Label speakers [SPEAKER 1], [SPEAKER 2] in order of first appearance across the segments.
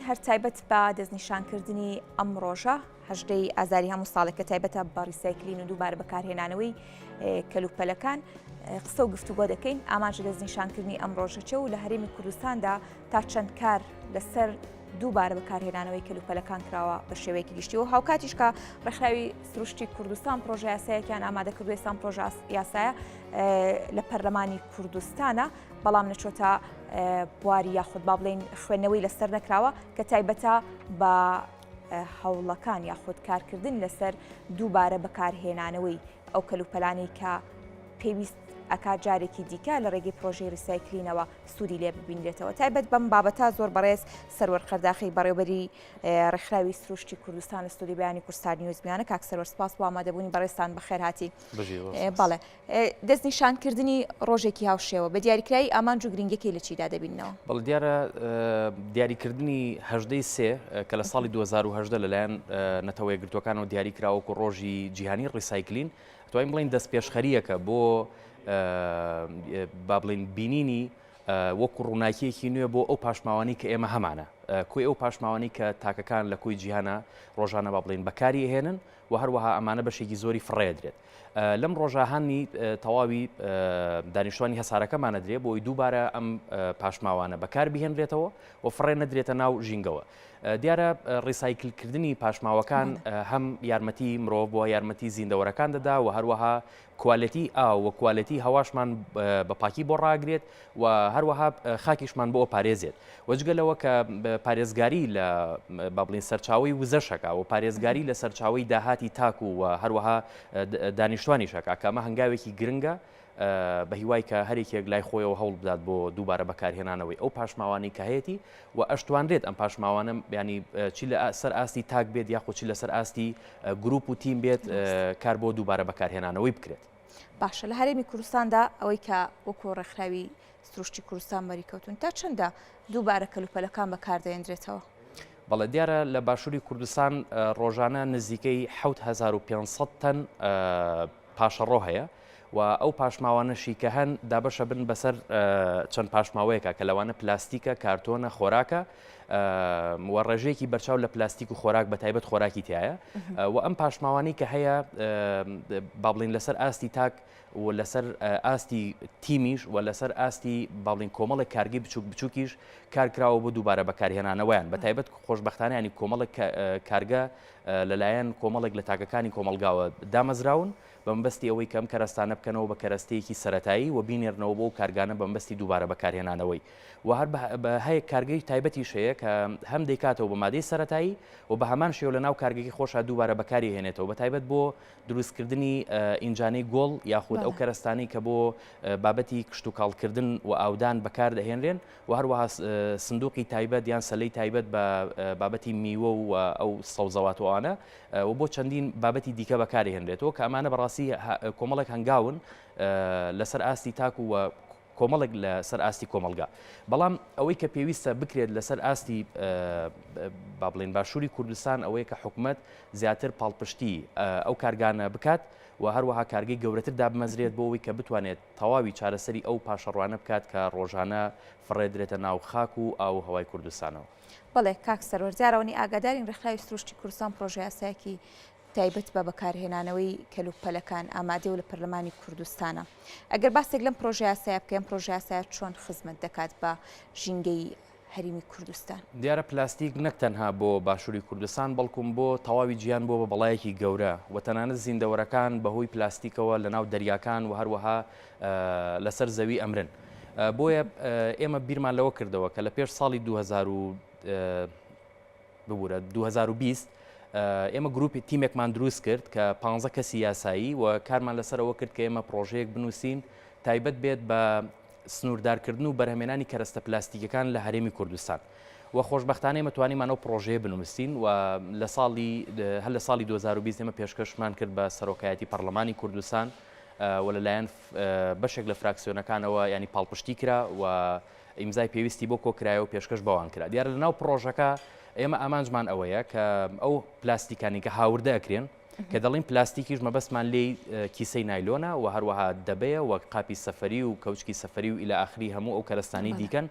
[SPEAKER 1] هەر تایبەت بە دەستنیشانکردنی ئەم ڕۆژە هەژدەی ئازاری هەموو ساڵێک کە تایبەتە بە ڕیسایکلین و دووبارە بەکارهێنانەوەی کەلوپەلەکان قسە و گفتوگۆ دەکەین ئاماژە دەستنیشانکردنی ئەم ڕۆژەچە و لە هەرێمی کوردستاندا تا چەند کار لەسەر دووبارە بەکارهێنانەوەی کەلوپەلەکان کراوە بە شێوەیەکی گشتی و هاوکاتیشکە ڕێکخراوی سروشتی کوردستان پرۆژه یاسایەکیان ئامادە کردو ئێسان پرۆژاس یاسایە لە پەرلەمانی کوردستانە بەڵام نەچۆتە بواری یاخود با بڵین خوێندنەوەی لەسەر نەکراوە کە تایبەتە بە هەوڵەکان یاخود کارکردن لەسەر دووبارە بەکارهێنانەوەی ئەو کەلوپەلانی کە پێویست ئەکا جارێکی دیکە لە ڕێگەی پرۆژەی ریسایکلینەوە سوودی لێ ببینرێتەوە تایبەت بەم بابەتا زۆر بەڕێز سەروەر قەرداخی بەڕێوبەری ڕێکخراوی سروشتی کوردستان لە سوودی بیانی کوردستان نیوزمیانە کاک سەروەر سپاس وامادەبوونی بەڕێستان بەخێرهاتی بەڵێ دەستنیشانکردنی ڕۆژێکی هاوشێوە بە دیاریکراوی ئامانج و گرنگیەکەی لە چیدا دەبیننەوە؟ بەڵێ دیارە
[SPEAKER 2] دیاریکردنی هەژدە ی سێ کە لە ساڵی دوو هەزار و هەژدە لەلایەن نەتەوە یەکگرتووەکانەوە دیاری کرا وەکو ڕۆژی جیهانی ڕیسایکلین توانین بڵین دەستپێشخەریەکە بۆ با بڵین بینینی وەکو ڕووناکیەکی نوێ بۆ ئەو پاشماوانی کە ئێمە هەمانە کوی ئەو پاشماوانی کە تاکەکان لە کوی جیهانە ڕۆژانە با بڵین بەکاری هێنن و هەروەها ئەمانە بەشێکی زۆری فڕێدرێت لەم ڕۆژە هانی تەواوی دانیشتوانی هەسارەکەمان نەدرێ بۆی دووبارە ئەم پاشماوانە بەکار بهێنرێتەوە و فڕێ نەدرێتە ناو ژینگەوە. دیارە ڕیسایکلکردنی پاشماوەکان هەم یارمەتی مرۆڤ بۆ یارمەتی زیندەوەرەکان دەدا و هەروەها کوالەتی ئا و کوالەتی هەواشمان بە پاکی بۆ ڕاگرێت و هەروەها خاکیشمان بۆ پارێزێت و جگە لەوە کە پارێزگاری لە با بڵین سەرچاوی وزەشەکە و پارێزگاری لە سەرچاوی داهاتی تاک و هەروەها دانیشتوانی شەکە کە ئەمە هەنگاوێکی گرنگە بە هیوای کە هەرێکێک لای خۆیەوە هەوڵ بدات بۆ دووبارە بەکارهێنانەوەی ئەو پاشماوانی کە هەیەی و ئەشتوانرێت ئەم پاشماوانە بیانی چی لە سەر ئاستی تاک بێت یاخۆچی لەسەر ئاستی گروپ و تیم بێت کار بۆ دووبارە بەکارهێنانەوەی بکرێت باشە لە هەرێمی
[SPEAKER 1] کوردستاندا ئەوەی کە وەکو ڕێکخراوی سروشتی کوردستان مەریکەوتون تا چەندە دووبارە کەلوپەلەکان بەکاردەێنرێتەوە. بەڵێ دیارە
[SPEAKER 2] لە باشووری کوردستان ڕۆژانە نزیکەی 1500 تەن پاشەڕۆ هەیە و ئەو پاشماوانەشی کە هەن دابەشە بن بەسەر چەند پاشماوەیەکە کە لەوانە پلاستیکە کارتۆنە خۆراکە و ڕێژەیەکی بەرچاو لە پلاستیک و خۆراک بە تایبەت خۆراکی تایە و ئەم پاشماوانی کە هەیە بابلین لەسەر ئاستی تاک و لەسەر ئاستی تیمیش و لەسەر ئاستی باڵین کۆمەڵێک کارگەی بچوک بچووکیش کارکراوە بۆ دووبارە بەکارهێنانەوەیان بە تایبەت خۆشببختانیانی کۆمەڵێک کارگە لەلایەن کۆمەڵێک لە تاکەکانی کۆمەلگاوە دامەزراون و بەمەبەستی ئەوەی کە ئەم کەرەستانە بکەنەوە بە کەرەستەیەکی سەرەتایی و بینێرنەوە بۆ ئەو کارگانە بەمەبەستی دووبارە بەکارهێنانەوەی و هەر بە هەیەک کارگەی تایبەتیش هەیە کە هەم دەیکاتەوە بە مادەی سەرەتایی و بە هەمان شێوە لە ناو کارگەکەی خۆشا دووبارە بەکاری هێنێتەوە بە تایبەت بۆ دروستکردنی ئینجانەی گۆڵ یاخود ئەو کەرەستانی کە بۆ بابەتی کشت و کاڵکردن و ئاودان بەکار دەهێنرێن و هەروەها سندوقی تایبەت یان سەلەی تایبەت بە بابەتی میوە و ئەو سەوزەواتوانە و بۆ چەندین بابەتی دیکە بەکاری هێنرێتەوە کە ئەمانە بەڕاستی کۆمەڵێک هەنگاون لەسەر ئاستی تاک و کۆمەڵێک لە سەر ئاستی کۆمەلگا بەڵام ئەوەی کە پێویستە بکرێت لەسەر ئاستی با بڵێن باشووری کوردستان ئەوەیە کە حکومت زیاتر پاڵپشتی ئەو کارگانە بکات و هەروەها کارگەی گەورەتر دابمەزرێت بۆ ئەوی کە بتوانێت تەواوی چارەسەری ئەو پاشەڕوانە بکات کە ڕۆژانە فڕێدرێتە ناو خاک و ئاو هەوای کوردستانەوە. بەڵێ کاک
[SPEAKER 1] سەروەر، دیارە ئەوەنەی ئاگادارین ڕێکخراوی سروشتی کوردستان پڕۆژە یاسایەکی تایبەت بە بەکارهێنانەوەی کەلوپ پەلەکان ئامادەیە و لە پەرلەمانی کوردستانە. ئەگەر باسێک لەم پڕۆژە یاسایە بکەین، پڕۆژە یاسایە چۆن خزمەت دەکات بە ژینگەی هەریمی کوردستان؟ دیارە پلاستیک
[SPEAKER 2] نەک تەنها بۆ باشوری کوردستان بەڵکوم بۆ تەواوی جیهان بووە بە بەڵایەکی گەورە و تەنانەت زیندەوەرەکان بە هۆی پلاستیکەوە لە ناو دەریاکان و هەروەها لەسەر زەوی ئەمرن. بۆیە ئێمە بیرمان لەوە کردەوە کە لە پێش ساڵی 2000 ببوورە 2020 ئێمە گروپی تیمێکمان دروست کرد کە پ کەسی یاسایی و کارمان لەسەرەوە کرد کە ئێمە پرۆژەیەک بنووسین تایبەت بێت بە سنووردارکردن و بەرهەمێنانی کەرەستە پلاستیکەکان لە هەرێمی کوردستان. و خۆشببختانەی مەتوانیمانەوە پرۆژەیە بنووسین و لە ساڵی هەر لە ساڵی 2020 ئمە پێشکەشمان کرد بە سەرۆکایەتی پەرلەمانی کوردستان و لەلایەن بەشێک لە فراکسیۆنەکانەوە یانی پاڵپشتی کرا و ئیمزای پێویستی بۆ کۆکرایە و پێشکەش بەوان کرا دیارە لەناو پرۆژەکە ئێمە ئامانجمان ئەوەیە کە ئەو پلاستیکانی کە هاوردە ئەکرێن کە دەڵین پلاستیکیش مەبەستمان لێ کیسەی نایلۆنا و هەروەها دەبەیە وەک قاپی سەفری و کەوچکی سەفری و ئیلا ئاخری هەموو ئەو کەرستانی دیکەن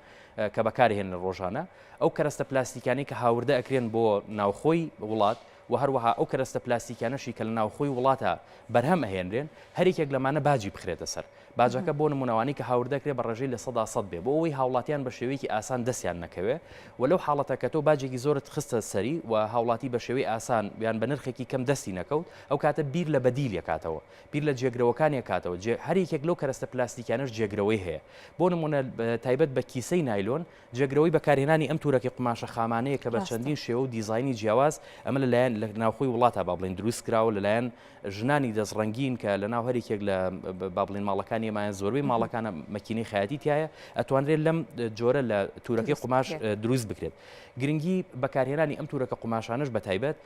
[SPEAKER 2] کە بەکارهێن ڕۆژانە ئەو کەرستە پلاستیکانی کە هاوردە ئەکرێن بۆ ناوخۆی وڵات وە هەروەها ئەو کەرەستە پلاستیکیانەشی کە لە ناوخۆی وڵاتە بەرهەم ئەهێنرێن هەر یەکێک لەمانە باجی بخرێتە سەر، باجەکە بۆ نموونە ئەوانەی کە هاوردە ئەکرێ بە ڕێژەی لە سەدا سەد بێ بۆ ئەوەی هاوڵاتیان بە شێوەیەکی ئاسان دەستیان نەکەوێ و لەو حاڵەتە کە تۆ باجێکی زۆرت خستە سەری و هاوڵاتی بە شێوەی ئاسان یان بە نرخێکی کەم دەستی نەکەوت ئەو کاتە بیر لە بەدیل یەکاتەوە بیر لە جێگرەوەکان یەکاتەوە جێ هەر یەکێک لەو کەرەستە پلاستیکیانەش جێگرەوەی هەیە بۆ نموونە تایبەت بە کیسەی نایلۆن جێگرەوەی بەکارهێنانی ئەم تورەکە قوماشە خامانەیە کە بە چەندین شێوە و دیزاینی جیاواز ئەمە لە لایەن لە ناوخۆی وڵاتا با بڵێن دروست کراوە لە لایەن ژنانی دەست ڕەنگین کە لە ناو هەرێکێک لە با بڵێن ماڵەکانی ئێمایان زۆربەی ماڵەکانە مەکینەی خەیاتی تایە ئەتوانرێت لەم جۆرە لە تورەکەی قوماش دروست بکرێت گرنگی بەکارهێنانی ئەم تورەکە قوماشانش بە تایبەت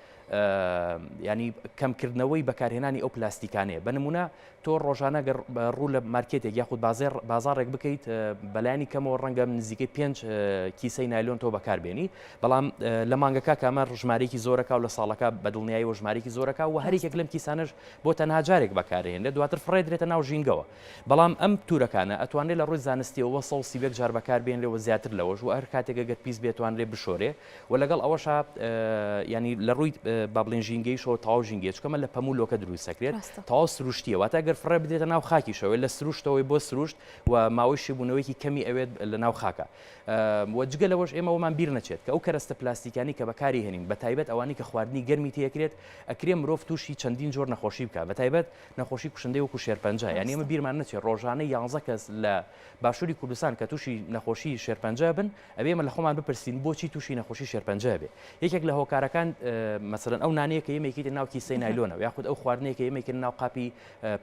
[SPEAKER 2] ینی کەمکردنەوەی بەکارهێنانی ئەو پلاستیکانەیە بە نمونە تۆ ڕۆژانە گەر ڕوو لە مارکێتێک یاخود بازێر بازارێک بکەیت بەلایانی کەمەوە ڕەنگە نزیکەی پێنج کیسەی نایلۆن تۆ بەکار بێنی بەڵام لە مانگەکە کامە ژمارێکی زۆرەکە و لە ساڵەکە بەدڵنیایی و ژمارێکی زۆرەکە و هەرێکێک لەم کیسانش بۆ تەنها جارێک بەکارێن لە دواتر فڕێدرێتە ناو ژینگەوە بەڵام ئەم تورەکانە ئەتوانێت لە ڕووی زانستیەوە سەڵ سیبێک جار بەکار بێن لەوە زیاتر لەوەش و هەر کاتێکە گەر پیس بێتوان لێ بشۆرێ وە لەگەڵ ئەوەشا یانی لە ڕووی با بڵێن ژینگەیشەوە تەواو ژینگەیە چکەمە لە پەموو لۆکە دروست دەکرێت تەواو سروشتیە واتە ئەگەر فڕێ بدرێتە ناو خاکیشەوەی لە سروشتەوەی بۆ سروشت و ماوەی شیبوونەوەیکی کەمی ئەوێت لە ناو خاکە وە جگە لەوەش ئێمەوەمان بیر نەچێت کە ئەو کەرەستە پلاستیکانی کە بەکاری هێنین بە تایبەت ئەوانی کە خواردنی گەرمی تێکرێت ئەکرێ مرۆڤ تووشی چەندین جۆر نەخۆشی بکە بە تایبەت نەخۆشی کوشندەی وەکو شێرپەنجە یانی ئەمە بیرمان نەچێت ڕۆژانە یانزە کەس لە باشووری کوردستان کە تووشی نەخۆشی شێرپەنجە بن ئەبێ ئێمە لە خۆمان بپرسین بۆچی تووشی نەخۆشی شێرپەنجە ئەبێ؟ یەکێک لە هۆکارەکان مەسەلەن ئەو نانەیە کە ئێمە ئەیکەینە ناو کیسەی نایلۆنەوە یا خود ئەو خواردنەیە کە ئێمە ئەیکەینە ناو قاپی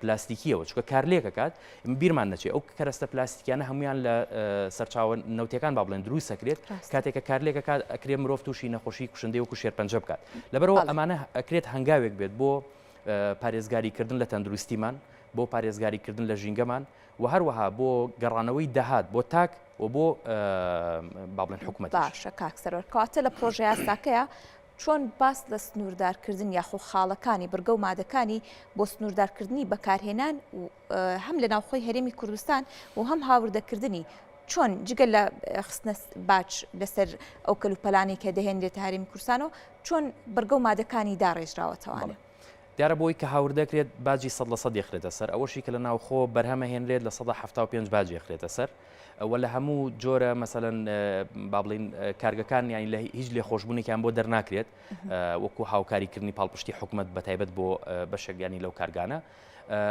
[SPEAKER 2] پلاستیکییەوە چونکە کارلێک دەکات بیرمان نەچێ ئەو کەرەستە پلاستیکیانە هەمویان لە سەرچاوە نەوتیەکان با بڵێن دروست دەکرێت کاتێک کە کارلێکە کات ئەکرێ مرۆڤ تووشی نەخۆشی کوشندەی وەکو شێرپەنجە بکات لەبەرەوە ئەمانە ئەکرێت هەنگاوێک بێت بۆ پارێزگاریکردن لە تەندروستیمان بۆ پارێزگاریکردن لە ژینگەمان و هەروەها بۆ گەڕانەوەی دەهات بۆ تاک و بۆ با بڵێن حکومەت باشە کاک سەرۆر
[SPEAKER 1] کەواتە لە پرۆژە یاساکەیە چۆن باس لە سنووردارکردن یاخۆ خاڵەکانی بڕگە و مادەکانی بۆ سنووردارکردنی بەکارهێنان هەم لە ناوخۆی هەرێمی کوردستان و هەم هاوردەکردنی چۆن جگە لە خستنە باچ لەسەر ئەو کەلوپەلانی کە دەهێنرێت هەرێمی کورسان و چۆن بڕگە و مادەکانی داڕێژراوەتەوانێت دیارە بۆی
[SPEAKER 2] کە هاوردەکرێت باجی سەد لە سەد یەخرێتە سەر، ئەوەشی کە لە ناوخۆ بەرهەمەهێنرێت لە سەدا حەفتا و پێنج باج یەخرێتە سەر و لە هەموو جۆرە مەسەلەن با بڵێین کارگەکان یانی لە هیچ لێخۆشبوونێکیان بۆ دەرناکرێت وەکو هاوکاریکردنی پاڵپشتی حکوومەت بە تایبەت بۆ بەشەگانی لەو کارگانە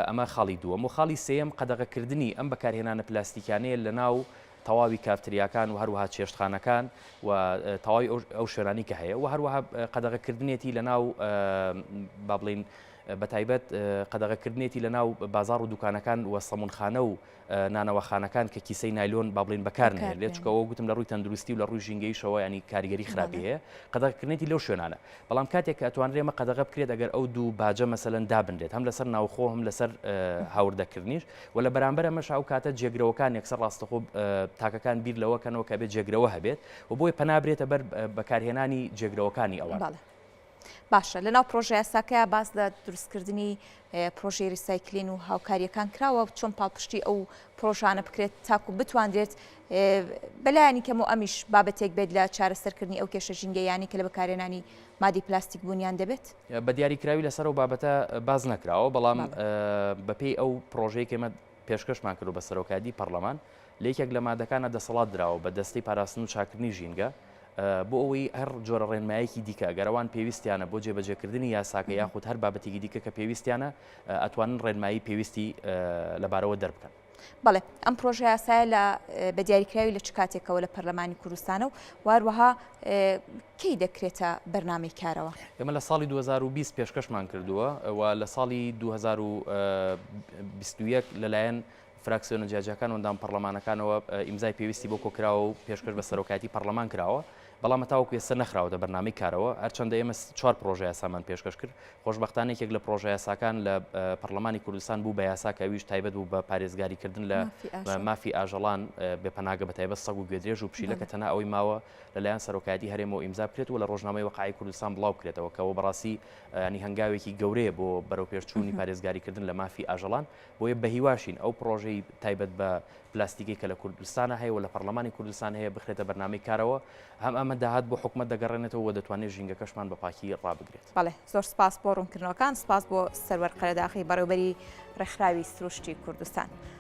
[SPEAKER 2] ئەمە خاڵی دووەم و خاڵی سێم قەدەغەکردنی ئەم بەکارهێنانە پلاستیکانەیە لە ناو تەواوی کافتریاکان و هەروەها چێشتخانەکان و تەواوی ئەو شوێنانی کە هەیە و هەروەها قەدەغەکردنێتی لە ناو با بڵین بە تایبەت قەدەغەکردنێتی لە ناو بازار و دوکانەکان و سەمونخانە و نانەوەخانەکان کە کیسەی نایلۆن با بڵین بەکارن لێ چکەوە گوتم لە ڕووی تەندروستی و لە ڕووی ژینگەیشەوە ینی کاریگەری خراپی هەیە قەدەغکردنێتی لەو شوێنانە بەڵام کاتێک کە ئەتوانرێ مە قەدەغە بکرێت ئەگەر ئەو دوو باجە مەسەن دابنرێت هەم لەسەر ناوخۆ هەم لەسەر هاوردەکردنیش وە لە بەرامبەر ئەمەشا ئەو کاتە جێگرەوەکان یەکسەر ڕاستەخۆ تاکەکان بیر لەوە کەنەوە کە بێت جێگرەوە هەبێت و بۆیە پەنا برێتە بەر بەکارهێنانی جێگرەوەکانی ئەوان. بەڵێ. باشە
[SPEAKER 1] لەناو پرۆژە یاساکەیا باس لە دروستکردنی پرۆژەی ریسایکلین و هاوکاریەکان کراوە چۆن پاڵپشتی ئەو پرۆژانە بکرێت تاکو بتواندرێت بەلایانی کەم و ئەمیش بابەتێک بێت لە چارەسەرکردنی ئەو کێشە ژینگەیانی کە لە بەکارێنانی مادی پلاستیک بوونیان دەبێت؟ بە دیاریکراوی
[SPEAKER 2] لەسەر ئەو بابەتە باز نەکراوە بەڵام بەپێی ئەو پرۆژەیەکی مە پێشکەشمان کردو بە سەرۆکادی پەرلەمان لە یەکێک لە مادەکانە دەسەڵات دراوە بە دەستی پاراستن و چاکردنی ژینگە بۆ ئەوەی هەر جۆرە ڕێنمایەکی دیکە گەرەوان پێویستیانە بۆ جێبەجێکردنی یاساکە یاخود هەر بابەتێکی دیکە کە پێویستیانە ئەتوانن ڕێنمایی پێویستی لەبارەوە دەربکەن بەڵێ ئەم
[SPEAKER 1] پرۆژە یاسایە لە بە دیاریکراوی لە چ کاتێکەوە لە پەرلەمانی کوردستانە و واروەها کەی دەکرێتە بەرنمەی کارەوە ئێمە لە ساڵی 2020
[SPEAKER 2] پێشکەشمان کردووە و لە ساڵی 2021 لەلایەن فراکسیۆنە جیاجیاکان وەندام پەرلەمانەکانەوە ئیمزای پێویستی بۆ کۆکراوە و پێشکەش بە سەرۆکایەتی پەرلەمان کراوە بەڵام هەتاوەکو ئێستا نەخراوەتە بەرنامەی کارەوە، هەرچەندە ئێمە چوار پڕۆژەیاسامان پێشکەش کرد، خۆشبەختانە یەکێک لە پڕۆژەیاساکان لە پەڕڵەمانی کوردستان بوو بە یاسا کە ئەویش تایبەت بوو بە پارێزگاریکردن لە مافی ئاژەڵان بێ پەناگە بە تایبەت سەگ و گوێدرێژ و پشیلە کە تەنها ئەوەی ماوە لەلایەن سەرۆکایەتی هەرێمەوە ئیمزا بکرێت و لە ڕۆژنامەی وەقعی کوردستان بڵاو بکرێتەوە کەەوە بەڕاستی ینی هەنگاوێکی گەورەیە بۆ بەرەوپێشچوونی پارێزگاریکردن لە مافی ئاژەڵان بۆیە بەهیواشین ئەو پڕۆژەی تایبەت بە پلاستیکی کە لە کوردستانە هەیە و لە پەرلەمانی کوردستان هەیە بخرێتە بەرنامەی کارەوە هەم ئەمە داهات بۆ حکومت دەگەڕێنێتەوە و دەتوانێت ژینگەکەشمان بە پاکی ڕابگرێت. بەڵێ زۆر سپاس
[SPEAKER 1] بۆ ڕوونکردنەوەکان، سپاس بۆ سەروەر قەرەداغی بەڕێوەبەری ڕێکخراوی سروشتی کوردستان.